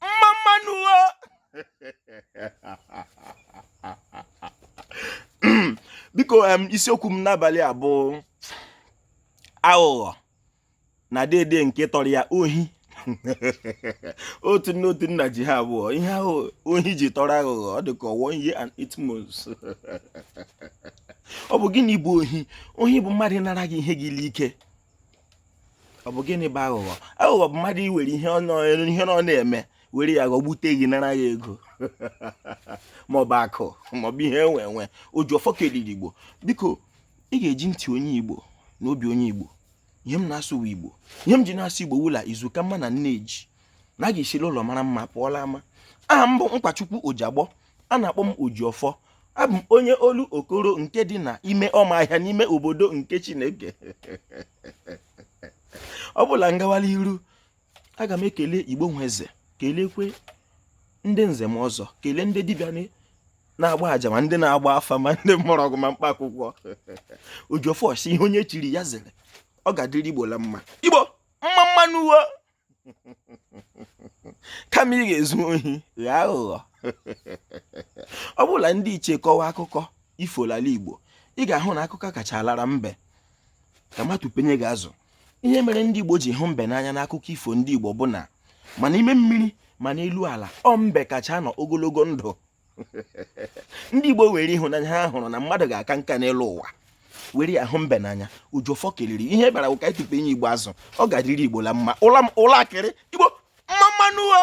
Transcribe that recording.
mma mma nụ o biko isiokwu m n'abalị a bụ aghụghọ na dede nke tọrọ ya ohi otu nne otu nna ji ha abụọ ihe ahụ ohi ji tọrọ aghụghọ ọ dị ka one year and eight months ọ bụ gịnị bụ ohi ohi bụ mmadụ ịnara gị ihe gị l'ike ọ bụ gịnị bụ aghụghọ aghụghọ bụ mmadụ iwere ihe ọ na-eme were ya ghọgbute gị nara ya ego maọbụ akụ maọbụ ihe enwe enwe oji ọfọ kelere igbo biko ị ga-eji ntị onye igbo na obi onye igbo ihe m na-asụ wụ igbo ihe m ji na-asụ igbo wụ la izu ka mma na nne ji na a ga-esi la ụlọ mara mma pụọ la ama aha m bụ nkwachukwu ojiagbọ a na-akpọ m Ojiọfọ abụ m onye Olokoro nke dị na ime ọma ahịa n'ime obodo nke Chineke ọ bụ la m gawa la iru aga m ekele Igbo Nweze kelekwe ndị nze ma ọzọ kelee ndị dibịa na-agba aja ma ndị na-agba afa ma ndị mgbọrọgwụ ma mkpa akwụkwọ Ojiọfọ si ihe onye chiri ya zere ọ ga-adịrị Igbo la mma Igbo mma mma nụ wo kama ị ga-ezu ohi ghọọ aghụghọ ọ bụ la ndị ichie kọwa akụkọ ifo l'ala igbo ị ga-ahụ na akụkọ kacha alara mbe ka m tụpenye gị azụ ihe mere ndị igbo ji hụ mbe n'anya n'akụkọ ifo ndị igbo bụ na ma na ime mmiri ma na elu ala ọ mbe kacha anọ ogologo ndụ ndị Igbo were ịhụnanya ha hụrụ na mmadụ ga-aka nka n'elu ụwa were ya hụ mbe n'anya Ojiọfọ keliri ihe bara ụka ịtụpenye Igbo azụ ọ ga-adịrị Igbo la mma ụla akịrị Igbo mma mma nụ o